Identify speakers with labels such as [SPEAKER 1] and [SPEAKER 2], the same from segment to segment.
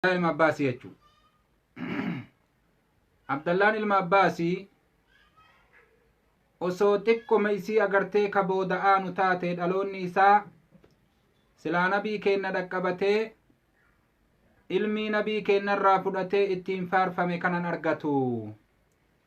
[SPEAKER 1] Abdallaa ilma Abbaasii jechuu. Abdallaan ilma Abbaasii osoo xiqqoma isii agartee ka booda aanu taate dhaloonni isaa silaa nabii keenna dhaqqabatee ilmii nabii keennarraa fudhatee ittiin faarfame kanan argatu.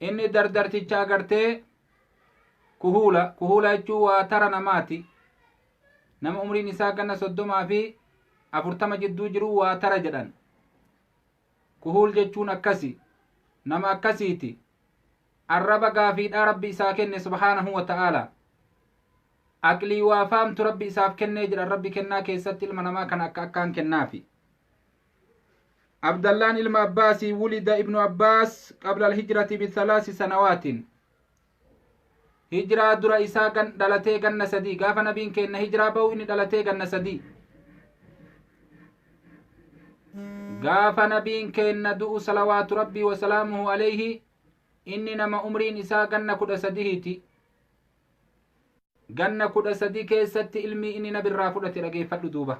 [SPEAKER 1] Inni dardarticha agartee kuhuula kuhuula jechuun waa tara namaati. Nama umriin isaa ganna soddomaa fi afurtama jidduu jiru waa tara jedhan. Kuhuul jechuun akkasi. Nama akkasiiti. Arraba gaafiidhaa rabbi isaa kenne subhaanahu wa ta'aala. Aqlii waa faamtu rabbi isaaf kennee jedhan rabbi kennaa keessatti ilma namaa kana akka akkaan kennaafi. abdallaan ilma abbaasii wulida ibnu abbaas qabla alhijrati bithalaasi sanawaatiin hijraa dura isaa gan dhalatee ganna sadii gaafa nabiin keenna hijraa ba'u inni dhalatee ganna sadii gaafa nabiin keenna du'u salawaatu rabbii wasalaamuhu alayhi inni nama umriin isaa ganna kudha sadihiiti ganna kudha sadii keessatti ilmii inni nabirraa fudhate dhageeffadhu duuba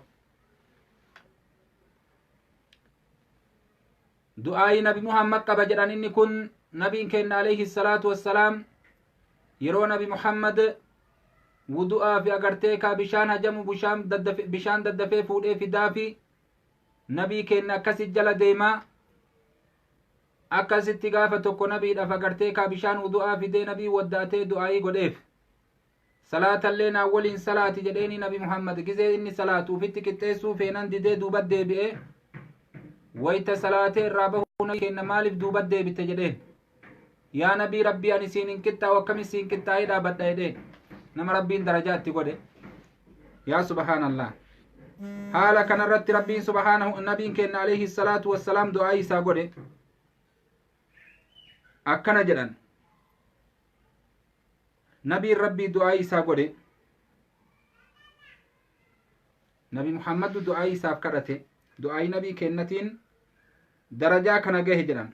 [SPEAKER 1] du'aayii nabi muhammad qaba jedhan inni kun nabiin keenna alayhi salaatu wassalaam yeroo nabi muhammad wudu'aa fi agartee kaa bishaan hajamu bushaan daddafe- bishaan daddafee fuudhee fidaa fi nabii keenna akkasi jala deemaa akkasitti gaafa tokko nabiidhaaf agartee kaa bishaan wudu'aa fidee nabii waddaatee du'aayii godheef Salaatallee naa woliin salaati jedheenii nabi Muhammad gizee inni salaatu ufitti qixxeessuu feenan didee duubat deebi'ee wayta salaatee irraa bahuu nabi keenna maaliif duubat deebitte jedheen yaa nabii rabbii ani siin hin qixxaa'u akkami siin qixxaa'ee dhaabadha jedheen nama rabbiin darajaa itti godhe yaa subhaanallah haala kanarratti rabbiin subhaanahu nabiin keenna alayhi salaatu wassalaam du'aa isaa godhe akkana jedhan nabiin rabbii du'aa'ii isaa godhe nabi muhammaddu du'aa'ii isaaf kadhate du'aa'ii nabii kennatiin darajaa kana gahe jedhan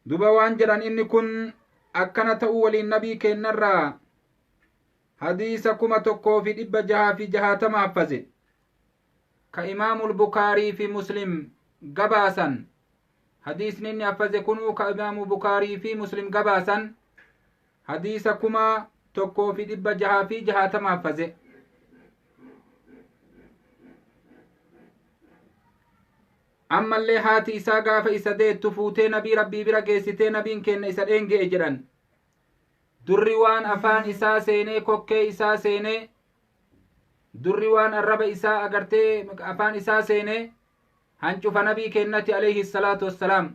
[SPEAKER 1] duba waan jedhan inni kun akkana ta'uu waliin nabii kennarraa hadiisa kuma tokkoo fi dhibba jahaa fi jahaatama haffaze ka imaamul bukaarii fi muslim gabaasan hadiisni inni affaze kunuu ka imaamu bukaarii fi muslim gabaasan hadiisa kuma tokkoo fi dhibba jahaa fi jahaatama affaze ammallee haati isaa gaafa isa deettu fuutee nabii rabbii bira geessitee nabiin keenna isa dheenge'e jedhan durri waan afaan isaa seenee kokkee isaa seenee durri waan arraba isaa agartee afaan isaa seene hancufa nabii keennati alayhi salaatu wassalaam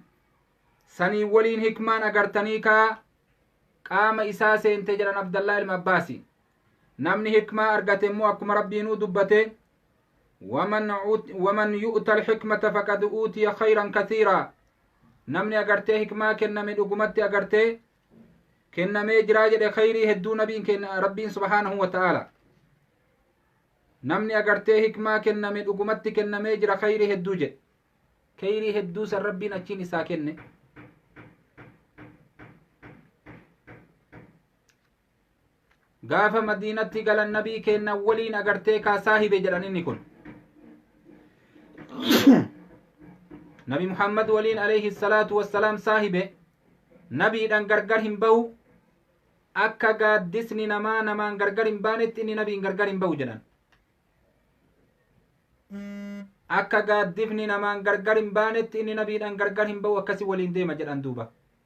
[SPEAKER 1] sanii waliin hikmaan agartanii kaa qaama isaa seente jedhan abdallaa ilma abbaasi namni hikmaa argate immoo akkuma rabbiinuu dubbate waman ut- waman yu'ta alhikmata faqad uutiya khayran kathiira namni agartee hikmaa kenname dhugumatti agartee kennamee jiraa jedhe khayrii hedduu nabiin kenna rabbiin subhaanahu wa ta'aala namni agartee hikmaa kenname dhugumatti kennamee jira khayrii hedduu jedhe khayrii hedduu san rabbiin achiin isaa kenne gaafa madiinatti galan nabii keenna waliin agartee kaa saahibe jedhan inni kun nabi muhammad waliin alayhi salaatu wassalaam saahibe nabiidhan gargar hin bahu akka gaaddisni namaa namaan gargar hin baanetti inni nabiin gargar hin bahu jedhan akka gaaddifni namaan gargar hin baanetti inni nabiidhan gargar hin bahu akkasi waliin deema jedhan duuba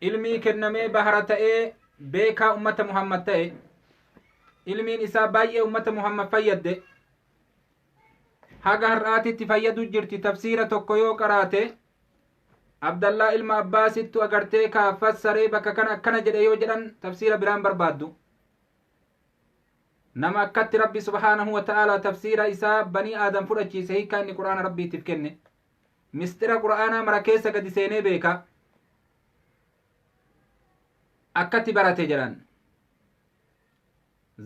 [SPEAKER 1] ilmii kennamee bahara ta'ee beekaa ummata muhammad ta'e ilmiin isaa baay'ee ummata muhammad fayyadde haga har'aatitti fayyadu jirti tafsiira tokko yoo qaraate abdallaa ilma abbaasittu agartee kaa fassaree bakka kana akkana jedhe yoo jedhan tafsiira biraan barbaaddu nama akkatti rabbi subhaanahu wa ta'aalaa tafsiira isaa banii aadam fudhachiise hiikkaa inni qur'aana rabbiitiif kenne misxira qur'aanaa mara keessa gadi seenee beeka akkatti barate jedhan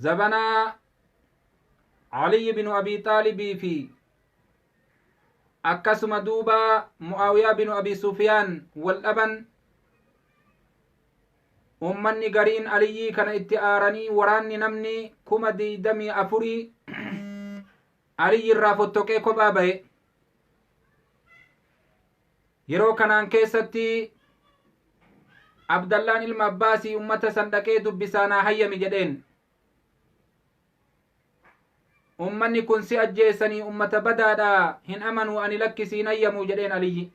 [SPEAKER 1] zabanaa aliyi binu abii xaalibii fi akkasuma duuba mu'aawiyaa binu abii sufiyaan wal dhaban ummanni gariin aliyyii kana itti aaranii waraanni namni kuma digdamii afurii Aliyyi irraa fottoqee kophaa ba'e. Yeroo kanaan keessatti Abdallaan ilma Abbaasii ummata san dhaqee dubbisaa naa hayyami jedheen. Ummanni kun si ajjeessanii ummata badaadha hin amanuu ani lakkisii hin hayyamuu jedheen Aliyyi.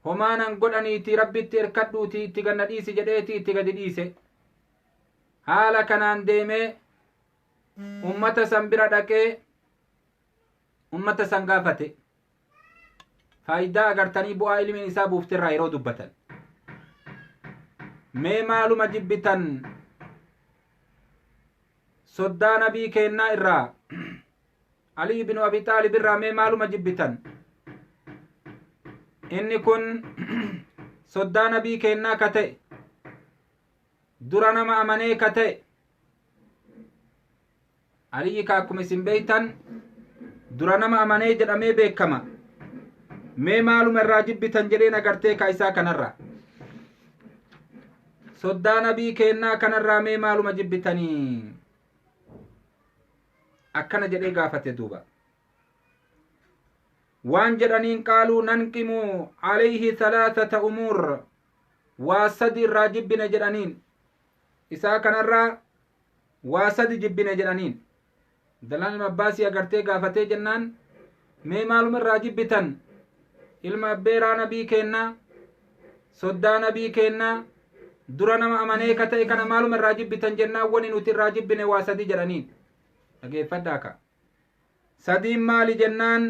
[SPEAKER 1] Homaanan godhaniiti rabbitti erkadhuuti itti ganna dhiisi jedheeti itti gadi dhiise. Haala kanaan deemee ummata san bira dhaqee ummata san gaafate faayidaa agartanii bu'aa ilmiin isaa buufte irraa yeroo dubbatan mee maaluma jibbitan soddaa nabii keennaa irraa ali ibnu abi xaalib irraa mee maaluma jibbitan inni kun soddaa nabii keennaa ka ta'e dura nama amanee ka ta'e aliyyi ka akkuma isin beektan dura nama amanee jedhamee beekama mee maaluma irraa jibbitan jedheen agartee ka isaa kanarra soddaa nabii keennaa kanarraa mee maaluma jibbitanii akkana jedhee gaafate duuba waan jedhaniin qaaluu nanqimu alayhi thalathata umuur waa sadi irraa jibbine jedhaniin isaa kanarraa waa sadi jibbine jedhaniin abdallaan ilma abbaasii agartee gaafatee jennaan mee maaluma irraa jibbitan ilma abbeeraa nabii keennaa soddaa nabii keennaa dura nama amanee ka ta'e kana maaluma irraa jibbitan jennaan wani nuti irraa jibbine waa sadi jedhaniin dhageeffadhaa ka sadiin maali jennaan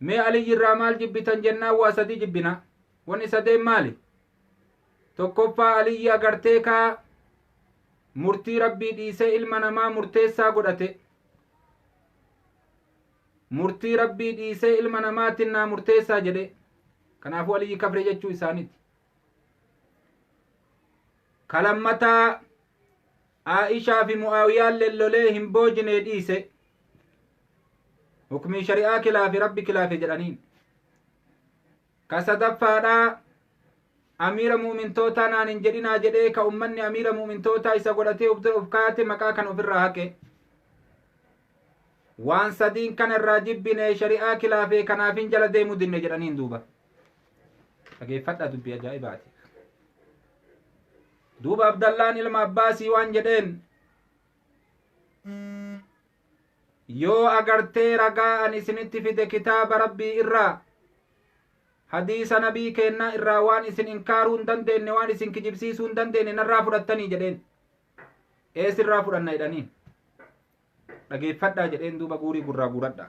[SPEAKER 1] Mee Aliyyi irraa maal jibbitan jennaan waa sadii jibbina. Wanni sadeen maali? Tokkoffaa Aliyyi agartee kaa murtii rabbii dhiisee ilma namaa murteessaa godhate. Murtii rabbii dhiisee ilma namaatiin naa murteessaa jedhe. Kanaafuu Aliyyi kafree jechuu isaaniiti. Kalammataa Aa'ishaa fi Mu'aawiyaan lellolee hin boojinee dhiise. Hukmii shari'aa kilaafe rabbi kilaafe jedhaniin. Ka sadaffaadhaa amiira mu'mintootaa naan hin jedhinaa jedhee ka ummanni amiira mu'mintootaa isa godhatee of dura of kaate maqaa kana ofirraa haqe. Waan sadiin kana irraa jibbine shari'aa kilaafe kanaaf hin jala deemuu dinne jedhaniin duuba. Dhageeffadhaa dubbii ajaa'ibaati. duuba abdallaan ilma abbaasii waan jedheen yoo agartee ragaa an isinitti fide kitaaba rabbii irraa hadiisa nabii keennaa irraa waan isin inkaaruu hin dandeenye waan isin kijibsiisuu hin dandeenye narraa fudhattanii jedheen ee sirraa fudhanna jedhaniin dhageeffadhaa jedheen duuba guurii gurraa guuradha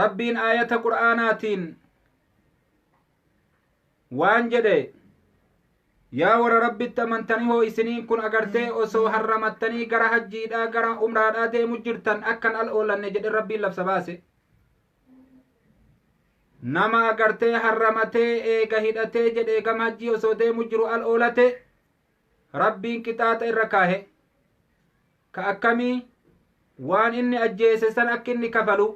[SPEAKER 1] rabbiin aayata qur'aanaatiin waan jedhe yaa warra rabbitti amantanii hoo isiniin kun agartee osoo harramattanii gara hajjiidhaa gara umraadhaa deemu jirtan akkan al oolanne jedhe rabbiin labsa baase nama agartee harramatee eega hidhatee jedhe gama hajjii osoo deemu jiru al oolate rabbiin qixaaxa irra kaahe ka akkamii waan inni ajjeese san akka inni kafalu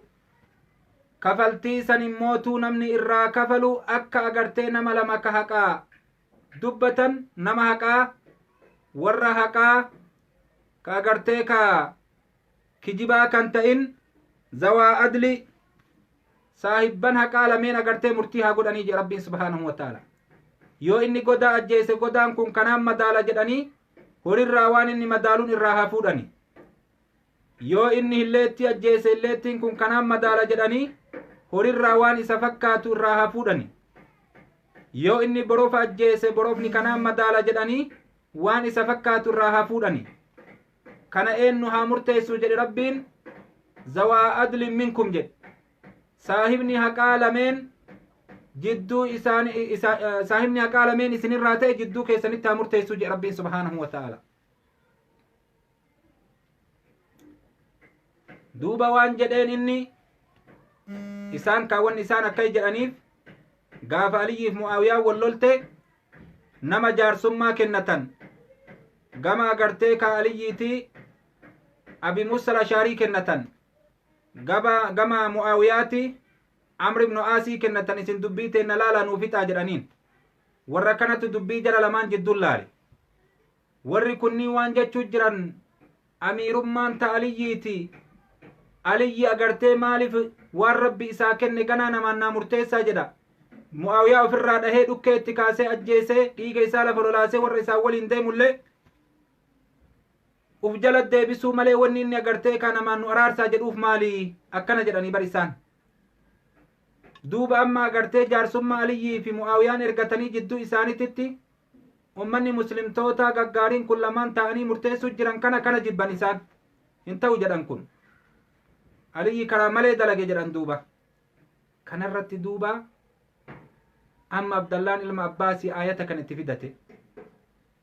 [SPEAKER 1] kafaltii san immootuu namni irraa kafalu akka agartee nama lama ka haqaa dubbatan nama haqaa warra haqaa ka agartee ka kijibaa kan ta'in zawaa adli saahibban haqaa lameen agartee murtii haa godhanii jedhe rabbiin subhaanahu wa ta'ala yoo inni godaa ajjeese godaan kun kanaan madaala jedhanii Horirraa waan inni madaalun irraa haa fuudhani. Yoo inni hilleettii ajjeese hilleettiin kun kanaan madaala jedhanii horirraa waan isa fakkaatu irraa haa fuudhani. Yoo inni borofa ajjeese borofni kanaan madaala jedhanii waan isa fakkaatu irraa haa fuudhani. Kana eennu haa murteessu jedhe Rabbiin zawaa adlin minkum jedhe. saahibni haqaa lameen jidduu isaan isa- eh, saahibni haqaa lameen isinirraa ta'e jidduu keessanitti haa murteessu jedha rabbiin subhaanahu wa ta'ala duuba waan jedheen inni isaan kaawwan isaan akka jedhaniif gaafa aliyyiif mu'aawiyaa wal lolte nama jaarsummaa kennatan gama agartee ka aliyyiiti abi musa lashaarii kennatan gaba gama mu'aawiyaati amr ibnu aasii kennatan isin dubbii teenna laalaa nuu fixaa jedhaniin warra kanatu dubbii jara lamaan jidduun laale warri kunniin waan jechuu jiran amiirummaan ta aliyyiiti aliyyi agartee maaliif waan rabbi isaa kenne ganaa namaan naa murteessaa jedha mu'aawiyaa ofirraa dhahee dhukkee itti kaasee ajjeesee dhiiga isaa lafa lolaasee warra isaan waliin deemullee Uf jala deebisuu malee wanni inni agartee kaa namaan nu araarsaa jedhuuf maali? Akkana jedhanii bar isaan. Duuba amma agartee jaarsummaa Aliyyii fi Mu'aawiyaan ergatanii jidduu isaanititti ummanni muslimtootaa gaggaariin kun lamaan taa'anii murteessuu jiran kana kana jibban isaan. Hin ta'u jedhan kun. Aliyyi karaa malee dalage jedhan duuba. Kanarratti duuba amma Abdallaan ilma Abbaasii aayata kan itti fidate.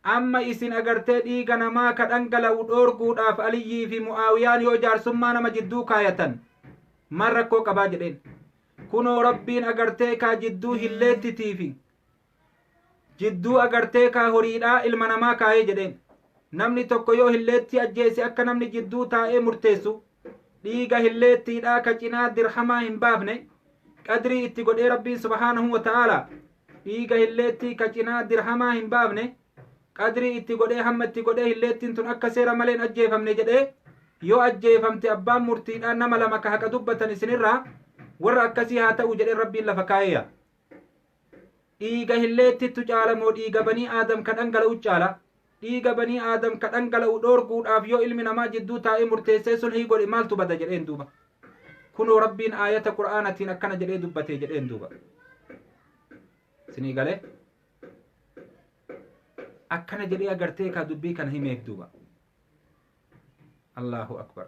[SPEAKER 1] Amma isin agartee dhiiga namaa ka dhangala'u dhoorguudhaaf Aliyyii fi Mu'aawiyaan yoo jaarsummaa nama jidduu kaayatan maal rakkoo qabaa jedheen. Kunoo Rabbiin agartee kaa jidduu hilleettitii fi jidduu agartee kaa horiidhaa ilma namaa kaayee jedheen. Namni tokko yoo hilleettii ajjeese akka namni jidduu taa'ee murteessu dhiiga hilleettiidhaa ka cinaa dirhamaa hin baafne qadrii itti godhee rabbiin subhaanahu wa ta'aala dhiiga hilleettii ka cinaa dirhamaa hin baafne qadrii itti godhee hamma itti godhee hilleettiin tun akka seera maleen ajjeefamne jedhee yoo ajjeefamte abbaan murtiidhaa nama lama ka haqa dubbatan isinirraa warra akkasii haa ta'u jedhee rabbiin lafa kaa'eeya dhiiga hilleettittu caala moo dhiiga banii aadam ka dhangala'u caala dhiiga banii aadam ka dhangala'u dhoorguudhaaf yoo ilmi namaa jidduu taa'ee murteessee sulhii godhe maaltu bada jedheen duuba kunoo rabbiin aayata qur'aanatiin akkana jedhee dubbatee jedheen duuba sinii galee akkana jedhee agartee kaa dubbii kana himeef duuba allahu akbar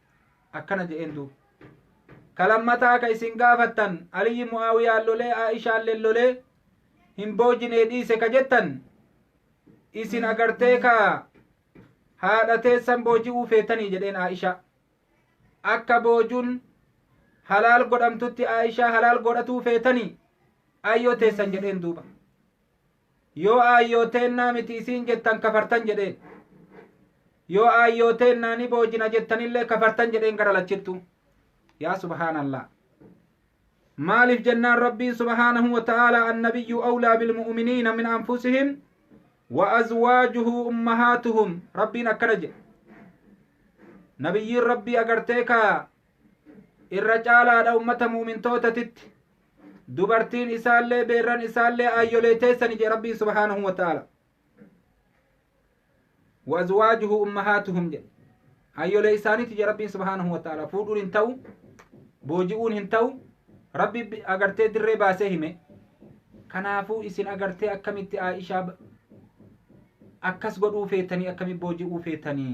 [SPEAKER 1] akkana je'een duuba ka lammataa ka isin gaafattan aliyyi mu'aawiyaan lolee aa'ishaalleen lolee hin boojinee dhiise ka jettan isin agartee ka haadha teessan booji'uu feetanii jedheen aa'ishaa akka boojuun halaal godhamtutti aa'ishaa halaal godhatuu feetanii ayyoo teessan jedheen duuba Yoo aayyoo teennaa miti isiin jettan kafartan jedheen. Yoo aayyoo teennaa ni boojina jettanillee kafartan jedheen gara lachittu. Yaa subhaanallah. Maaliif jennaan Rabbiin subhaanahu wa ta'aalaa annabiyyu awlaa bilmu'uminiina min anfusihim wa azwaajuhu ummahaatuhum Rabbiin akkana jedhe. Nabiyyiin Rabbii agartee ka irra caalaadha ummata mu'umintootatitti. dubartiin isaallee beerran isaallee aayyolee teessani jee rabbiin subhaanahu wa ta'ala wa azwaajuhu ummahaatuhum jedhe aayyolee isaaniiti jee rabbiin subhaanahu wa ta'ala fuudhuun hin ta'u booji'uun hin ta'u rabbi bi- agartee dirree baasee hime kanaafuu isin agartee akkamitti aa'ishaa ba- akkas godhuu feetanii akkamii booji'uu feetanii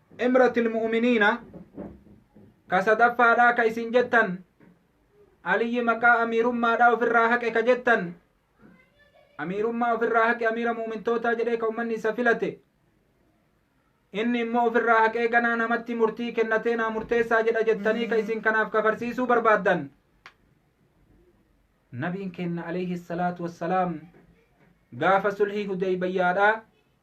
[SPEAKER 1] imratil mu'miniina ka sadaffaadhaa ka isin jettan aliyyi maqaa amiirummaadhaa ofirraa haqe ka jettan amiirummaa ofirraa haqe amiira mu'mintootaa jedhee ka ummanni isa filate inni immoo ofirraa haqee ganaa namatti murtii kennatee naa murteessaa jedha jettanii ka isin kanaaf kafarsiisuu barbaaddan nabiin keenna alayhi salaatu wassalaam gaafa sulhii hudeybayyaadhaa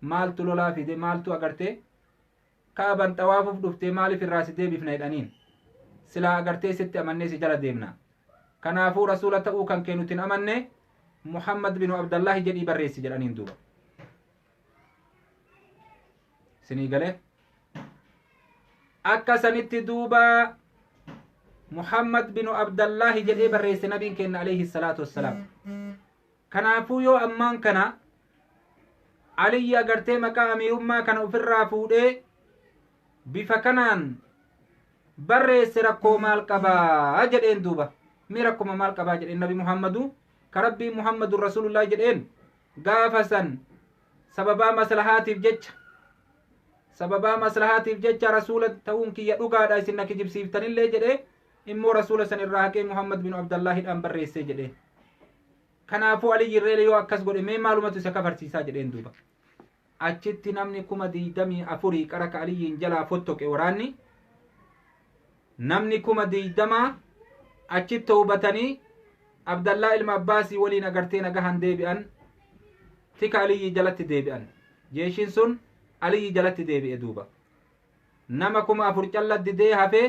[SPEAKER 1] maaltu lolaa fide maaltu agartee ka'aban xawaafuuf dhuftee maaliif irraa si deebifna jedhaniin silaa agartee sitti amannee si jala deemna kanaafuu rasuula ta'uu kan kee nutin amanne muhammad binu abdallaahi jedhii barreessi jedhaniin duuba sinii galee akka sanitti duuba muhammad binu abdallaahi jedhee barreesse nabiin keenna alayhi salaatu wassalaam Kanaafuu yoo ammaan kana Aliyyi agartee maqaa amiirummaa kana ofirraa fuudhee bifa kanaan barreesse rakkoo maal qabaa jedheen duuba mee rakkuma maal qabaa jedheen nabi muhammadu ka rabbiin muhammadun rasuulullaahi jedheen gaafa san sababaa maslahaatiif jecha sababaa maslahaatiif jecha rasuula ta'uun kiyya dhugaadha isin na kijibsiiftanillee jedhee immoo rasuula san irraa haqee muhammad bin abdallaahidhaan barreessee jedheen kanaafuu aliyyi irreele yoo akkas godhe mee maalumatu isa kafarsiisaa jedheen duuba achitti namni kuma diidamii afurii qara ka aliyyiin jalaa fottoqe waraanni namni kuma diidamaa achi toobatanii abdallaa ilma abbaasii waliin agartee nagahan deebi'an tika aliyyi jalatti deebi'an jeeshiin sun aliyyi jalatti deebi'e duuba nama kuma afur calla didee hafee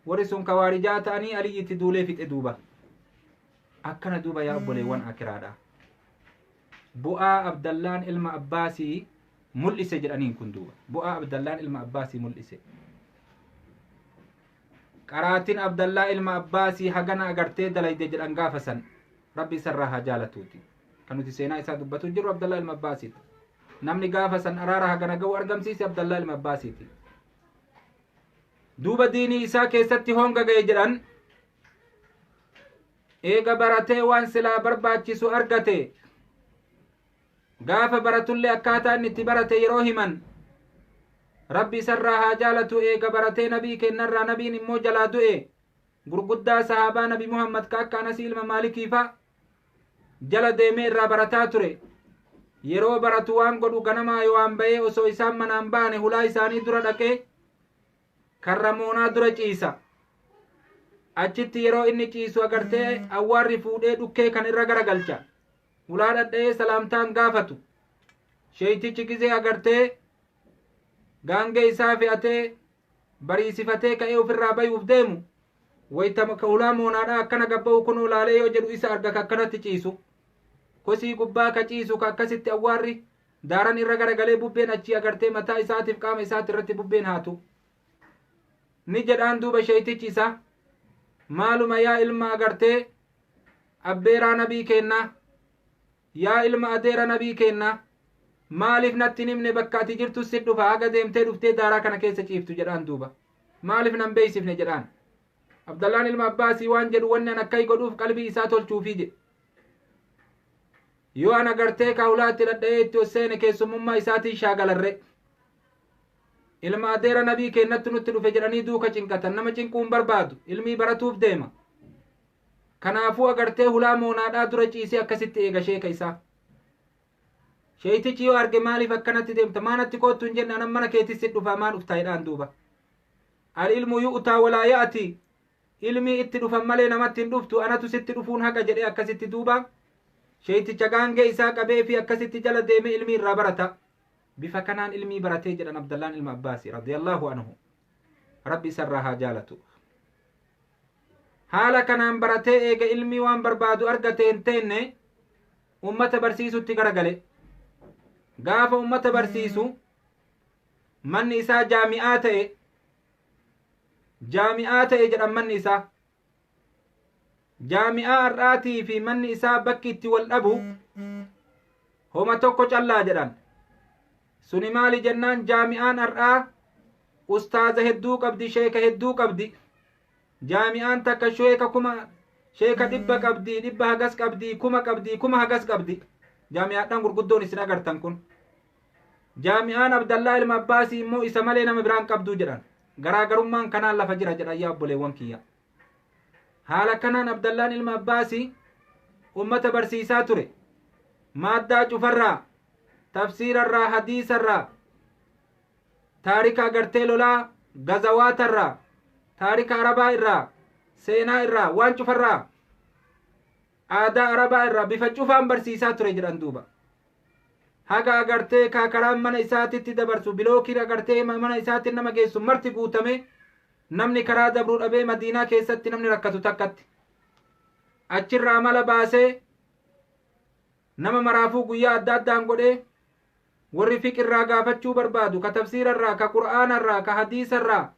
[SPEAKER 1] warri sun kawaarijaa ta'anii aliyyi itti duulee fixe duuba akkana duuba yaa obboleewwan akiraadha bu'aa abdallaan ilma abbaasii mul'ise jedhaniin kun duuba bu'aa abdallaan ilma abbaasii mul'ise qaraatin abdallaa ilma abbaasii hagana agartee dalayde jedhan gaafa san rabbi isarraa haa jaalatuuti kan nuti seenaa isaa dubbatu jirru abdallaa ilma abbaasiiti namni gaafa san araara hagana ga'u argamsiise abdallaa ilma abbaasiiti duuba diinii isaa keessatti honga ga'e jedhan eega baratee waan silaa barbaachisu argate gaafa baratullee akkaataa inni itti barate yeroo himan rabbi isarraa haa jaalatu eega baratee nabii kennarraa nabiin immoo jalaa du'e gurguddaa sahaabaa nabi muhammad ka akka anasii ilma maalikiifa jala deemee irraa barataa ture. Yeroo baratu waan godhu ganamaa Yowaan ba'ee osoo isaan manaan ba'ane hulaa isaanii dura dhaqee karra moonaa dura ciisa. Achitti yeroo inni ciisu agartee awwaarri fuudhee dhukkee kan irra garagalcha. Hulaa dhadha'ee salaamtaan gaafatu. Sheeytichi gizee agartee gaangee isaa fe'atee bariisifatee ka'ee ofirraa bayuuf deemu Wayta ka hulaa moonaadhaa akkana gabba'u kunoo laalee yoo jedhu isa arga ka akkanatti ciisu. Kosii gubbaa ka ciisu ka akkasitti awwaarri daaran irra garagalee bubbeen achii agartee mataa isaatiif qaama isaati irratti bubbeen haatu. Ni jedhaan duuba sheeytichi isaa maaluma yaa ilma agartee abbeeraa nabii keennaa Yaa ilma adeera nabii keennaa maaliif natti hin himne bakka ati jirtu si dhufa haga deemtee dhuftee daaraa kana keessa ciiftu jedhaan duuba maaliif nan beeksifne jedhaan abdallaan ilma abbaasii waan jedhu wanni an akkai godhuuf qalbii isaa tolchuufii jedhe yoo ana gartee kaawlaatti dhadha'ee itti ol seene keessummummaa isaatiin shaagalarre ilma adeera nabii keennatti nutti dhufe jedhanii duuka cinqatan nama cinquun barbaadu ilmii baratuuf deema Kanaafuu agartee hulaa moonaadhaa dura ciisee akkasitti eega sheeka isaa. Sheeytichi yoo arge maaliif akkanatti deemta maa natti koottu hin jenne anan mana keetis si dhufaa maa dhuftaa jedhaan duuba. Al ilmu yu'utaa walaa ya'ati ilmii itti dhufan malee namatti hin dhuftu anatu sitti dhufuun haqa jedhee akkasitti duuba. Sheeyticha gaangee isaa qabee fi akkasitti jala deemee ilmii irraa barata. Bifa kanaan ilmii baratee jedhan Abdallaan ilma Abbaasi radiyallahu anhu. Rabbi isarraa haa jaalatu. Haala kanaan baratee eega ilmii waan barbaadu argate hin teenne ummata barsiisutti garagale. Gaafa ummata barsiisu manni isaa jaami'aa ta'e. Jaami'aa ta'e jedhan manni isaa. jaami'aa har'aatii fi manni isaa bakki itti wal dhabu homa tokko callaa jedhan suni maali jennaan jaami'aan har'aa ustaaza hedduu qabdi sheeka hedduu qabdi jaami'aan takka sheeka kuma sheeka dhibba qabdi dhibba hagas qabdi kuma qabdi kuma hagas qabdi jaami'aadhaan gurguddoon isin agartan kun jaami'aan abdallaa ilma abbaasii immoo isa malee nama biraan qabduu jedhan Garaagarummaan kanaan lafa jira jedhan yaa obboleewwan kiyya. Haala kanaan Abdallaan ilma Abbaasii ummata barsiisaa ture. Maaddaa cufarraa, tafsiirarraa, hadiisarraa, taarika agartee lolaa, gazawaatarraa, taarika arabaa irraa, seenaa irraa, waan cufarraa aadaa Arabaa irraa bifa cufaan barsiisaa ture jedhan duuba. Haga agartee kaa karaan mana isaatitti dabarsu bilookiin agartee ma- mana isaatti nama geessu marti guutamee namni karaa dabruu dhabee madiinaa keessatti namni rakkatu takkatti. Achirraa amala baasee nama maraafuu guyyaa adda addaan godhee warri fiqirraa gaafachuu barbaadu ka tafsiirarraa ka qur'aanarraa ka hadiisarraa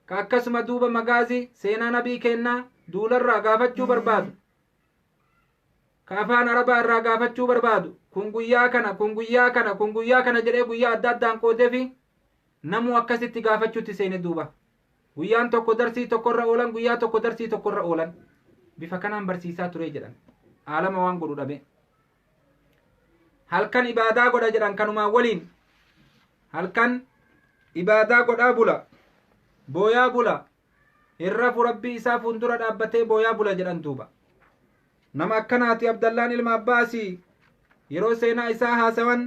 [SPEAKER 1] Ka akkasuma duuba magaazii seenaa nabii keennaa duularraa gaafachuu barbaadu. Ka afaan arabaa irraa gaafachuu barbaadu. Kun guyyaa kana, kun guyyaa kana, kun guyyaa kana jedhee guyyaa adda addaan qoodeefi namuu akkasitti gaafachuutti seene duuba. Guyyaan tokko darsii tokkorra oolan, guyyaa tokko darsii tokkorra oolan. Bifa kanaan barsiisaa turee jedhan. Aalama waan godhu dhabee. halkan ibaadaa godha jedhan kanumaan waliin halkan ibaadaa godhaa bula booyaa bula hin rafu rabbii isaa fuuldura dhaabbatee booyaa bula jedhan duuba nama akkanaati abdallaan ilma abbaasii yeroo seenaa isaa haasawan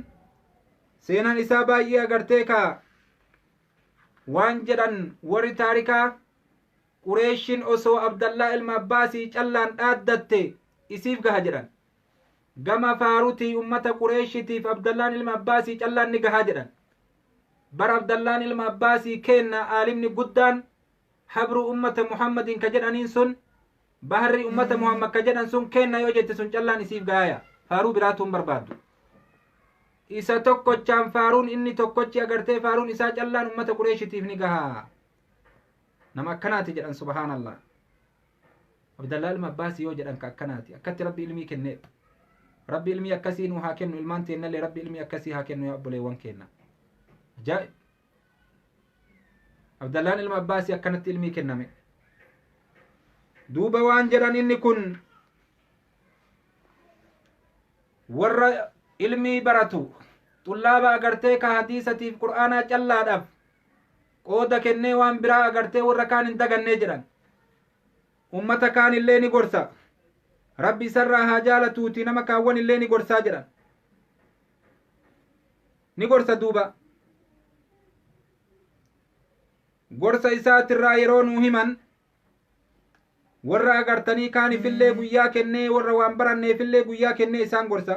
[SPEAKER 1] seenaan isaa baay'ee agartee kaa waan jedhan warri taarikaa qureeshin osoo abdallaa ilma abbaasii callaan dhaaddatte isiif gaha jedhan Gama faarutii ummata Qureeshitiif Abdallaan ilma Abbaasii callaan ni gahaa jedhan. Bar Abdallaan ilma Abbaasii keenna aalimni guddaan habruu ummata Muhammadiin ka jedhaniin sun baharri ummata Muhammad ka jedhan sun keenna yoo jette sun callaan isiif gaaya. Faaruu biraatuun barbaaddu. Isa tokkochaan faaruun inni tokkochi agartee faaruun isaa callaan ummata Qureeshitiif ni gahaa. Nama akkanaati jedhan subhaanallah. Abdallaa ilma Abbaasi yoo jedhan ka akkanaati. Akkatti Rabbi ilmii kenneedha. Rabbi ilmii akkasii nuu haa kennu ilmaan teennallee Rabbi ilmii akkasii haa kennu yaa obboleewwan keenna. Ajaa'ib! Abdallaan ilma Abbaasi akkanatti ilmii kenname. Duuba waan jedhan inni kun warra ilmii baratu xullaaba agartee ka hadiisatiif qur'aanaa callaadhaaf qooda kennee waan biraa agartee warra kaan hin dagannee jedhan ummata kaan illee ni gorsa rabbi isarraa haa jaalatuuti nama kaawwan illee ni gorsaa jedhan ni gorsa duuba gorsa isaatirraa yeroo nuu himan warra agartanii kaanifillee guyyaa kennee warra waan baranneefillee guyyaa kennee isaan gorsa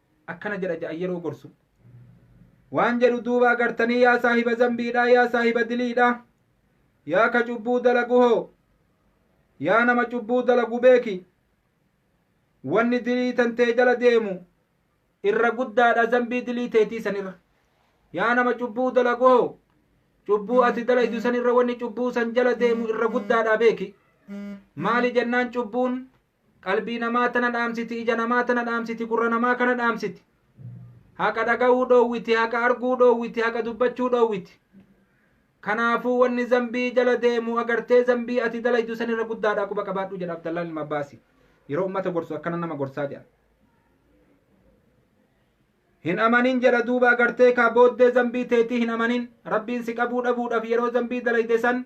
[SPEAKER 1] akkana jedha ja'an yeroo gorsu waan jedhu duuba agartanii yaa saahiba zambiidha yaa saahiba diliidha yaa ka cubbuu dalagu hoo yaa nama cubbuu dalagu beeki wanni dilii tantee jala deemu irra guddaadha zambii dilii teetii sanirra yaa nama cubbuu dalagu hoo cubbuu ati dalaydu sanirra wanni cubbuu san jala deemu irra guddaadha beeki maali jennaan cubbuun Qalbii namaa tana dhaamsiti, ija namaa tana dhaamsiti, gurra namaa kana dhaamsiti. Haqa dhaga'uu dhoowwiti, haqa arguu dhoowwiti, haqa dubbachuu dhoowwiti. Kanaafuu wanni zambii jala deemu agartee zambii ati dalaydu san irra guddaadha quba qabaadhu jedha Abdallaan ilma Abbaasi. Yeroo ummata gorsu akkana nama gorsaa jedha. Hin amanin jedha duuba agartee kaa booddee zambii teetii hin amanin. Rabbiin si qabuu dhabuudhaaf yeroo zambii dalayde san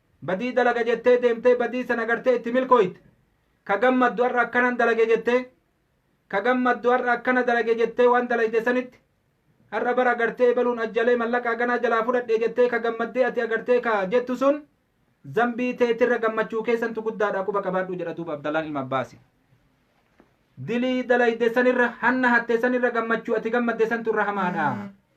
[SPEAKER 1] Badii dalaga jettee deemtee badii san agartee itti milkooyte. Ka gammaddu har'a akkanan dalage jettee ka gammaddu har'a akkana dalage jettee waan dalayde sanitti har'a bar agartee ebaluun ajjalee mallaqa haganaa jalaa fudhadhe jettee ka gammaddee ati agartee ka jettu sun zambii teetirra gammachuu kee santu guddaadha quba qabaadhu jedha duuba Abdallaan ilma Abbaasi. Dilii dalayde sanirra hanna hatte sanirra gammachuu ati gammadde santu irra hamaadha.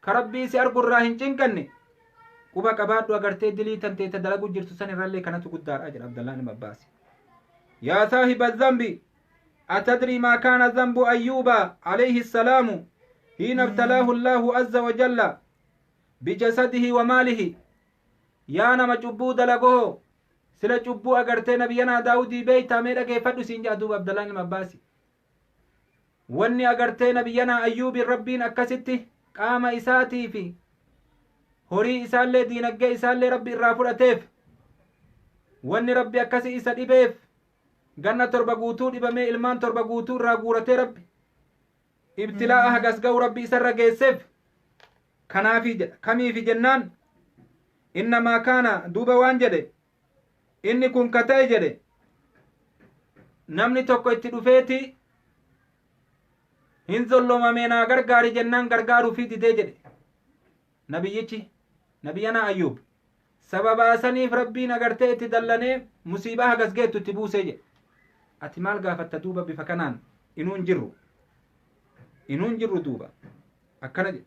[SPEAKER 1] Ka Rabbii si argu irraa hin cinqanne quba qabaadhu agartee dilii tantee ta dalaguu jirtu san irrallee kanatu guddaadha jedha Abdallaan ilma Abbaasi. Yaa saahiba zambi atadrii maa kaana zambu ayyuuba alayhi salaamu hiina ibtalaahu allaahu azza wa jalla bijasadihi wa maalihi yaa nama cubbuu dalagoho sila cubbuu agartee nabiyyanaa daawudii beeytaa mee dhageeffadhu siin jedha duuba abdallaan ilma abbaasi Wanni agartee nabiyyanaa Ayyuubiin Rabbiin akkasitti qaama isaatii fi horii isaallee diinaggee isaallee Rabbi irraa fudhateef wanni Rabbi akkasi isa dhibeef ganna torba guutuu dhibamee ilmaan torba guutuu irraa guuratee Rabbi ibtilaa'a hagas ga'u Rabbi isarra geesseef kanaafi jedha kamiifi jennaan innamaa kaana duuba waan jedhe Inni kun ka ta'e jedhe namni tokko itti dhufeeti hin zollomamee naa gargaari jennaan gargaaruu fi didee jedhe nabiyyichi nabiyyanaa ayyuub sababaa saniif rabbiin agartee itti dallanee musiibaa hagas geettu itti buusee jedhe ati maal gaafatta duuba bifa kanaan inuu hin jirru inuu hin jirru duuba akkana jedhe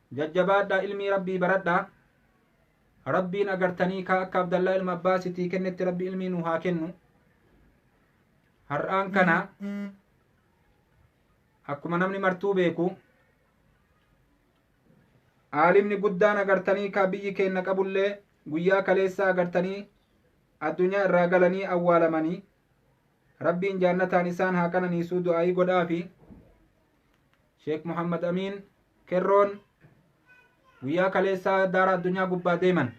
[SPEAKER 1] Jajjabaadhaa ilmii Rabbii baradhaa. Rabbiin agartanii kaa akka Abdallaa ilma Abbaas itii kennetti Rabbi ilmii nuu haa kennu. Har'aan kana akkuma namni martuu beeku aalimni guddaan agartanii kaa biyyi keenna qabullee guyyaa kaleessaa agartanii addunyaa irraa galanii awwaalamanii rabbiin jaannataan isaan haa qananiisuu du'aayii godhaafi. Sheek Muhammad Amiin Kerroon guyyaa kaleessaa daara addunyaa gubbaa deeman.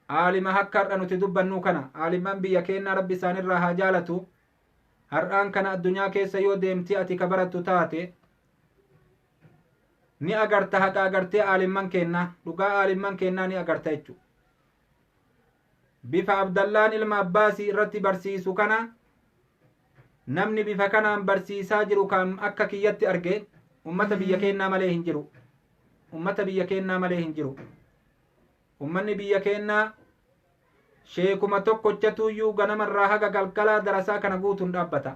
[SPEAKER 1] Aalima akka har'a nuti dubbannuu kana aalimman biyya keennaa rabbi isaanirraa haa jaalatu. Har'aan kana addunyaa keessa yoo deemtee ati ka barattu taate ni agarta haqa agartee aalimman keennaa dhugaa aalimman keennaa ni agarta jechuudha. Bifa Abdallaan ilma Abbaasii irratti barsiisu kana namni bifa kanaan barsiisaa jiru kan akka kiyyatti arge ummata biyya keennaa malee hin jiru. Ummata biyya keennaa malee hin jiru. Ummanni biyya keennaa sheekuma tokkochatuuyyuu ganamarraa haga galgalaa darasaa kana guutuun dhaabbata.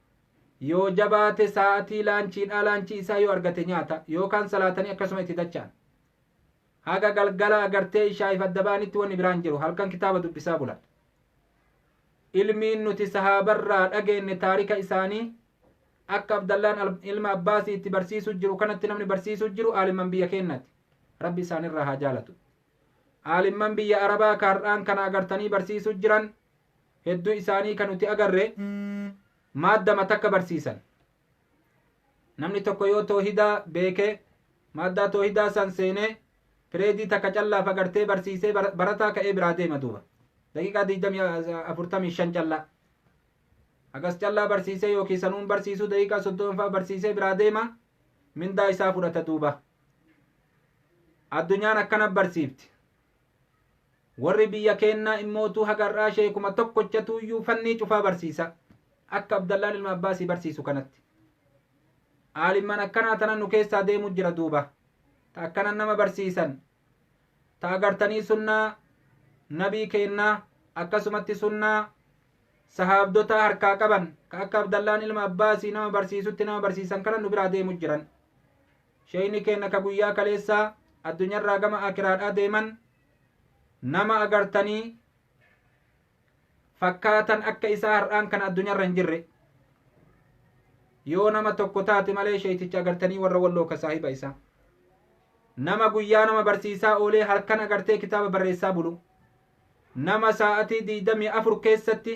[SPEAKER 1] Yoo jabaate sa'atii laanchiidhaa laanchii isaa yoo argate nyaata yookaan salaatanii akkasuma itti dacha'an. Haga galgala agartee ishaa'iif adda ba'anitti wanni biraan jiru halkan kitaaba dubbisaa bulan. Ilmiin nuti sahaabarraa dhageenne taarika isaanii akka Abdallaan al- ilma Abbaasii itti barsiisuu jiru kanatti namni barsiisuu jiru aalimman biyya keenyaati. Rabbi isaanirraa haa jaalatu. Aalimman biyya Arabaa ka har'aan kana agartanii barsiisuu jiran Hedduu isaanii kan nuti agarre maaddama takka barsiisan. Namni tokko yoo toohidaa beekee maaddaa toohidaa san seenee pireedii takka callaaf agartee barsiisee barataa ka'ee biraa deema duuba. Daqiiqaa 45 callaa. Hagas callaa barsiisee yookiin sanuun barsiisuu daqiiqaa 30 fa'aa barsiisee biraa deema mindaa isaa fudhata duuba. Addunyaan akkana barsiifti. Warri biyya keennaa immootuu haga har'aa sheekuma tokkochatuuyyuu fannii cufaa barsiisa. Akka Abdallaan ilma Abbaasii barsiisu kanatti. Aalimman akkanaa tana nu keessaa deemu jira duuba. Ta akkanan nama barsiisan. Ta agartanii sunnaa nabii keennaa akkasumatti sunnaa sahaabdotaa harkaa qaban ka akka Abdallaan ilma Abbaasii nama barsiisutti nama barsiisan kana nu biraa deemu jiran. Sheyni keenna ka guyyaa kaleessaa addunyarraa gama aakiraadhaa deeman nama agartanii fakkaatan akka isaa har'aan kana addunyarra hin jirre yoo nama tokko taate malee sheeyticha agartanii warra walloo ka saahiba isaa nama guyyaa nama barsiisaa oolee halkan agartee kitaaba barreessaa bulu nama saa'atii digdamii afur keessatti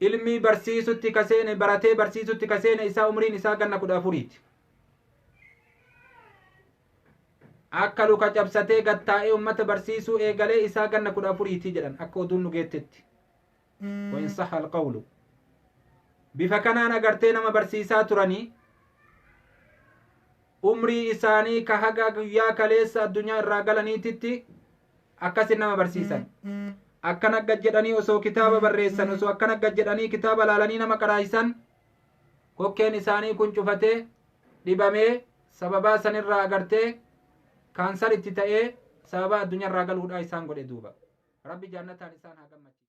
[SPEAKER 1] ilmii barsiisutti ka seene baratee barsiisutti ka seene isaa umriin isaa ganna kudha afuriiti akka luka cabsatee gattaa'ee ummata barsiisuu eegalee isaa ganna kudha afuriiti jedhan akka oduun nu geettetti wain saha alqawlu bifa kanaan agartee nama barsiisaa turanii umrii isaanii ka haga guyyaa kaleessa addunyaa irraa galaniititti akkasi nama barsiisan akkana gad jedhanii osoo kitaaba barreessan osoo akkana gad jedhanii kitaaba laalanii nama qaraayisan kokkeen isaanii kun cufatee dhibamee sababaa sanirraa agartee kaansar itti ta'ee sababaa addunyaarraa galuudhaa isaan godhe duuba rabbi jaannataan isaan haa gammachiisu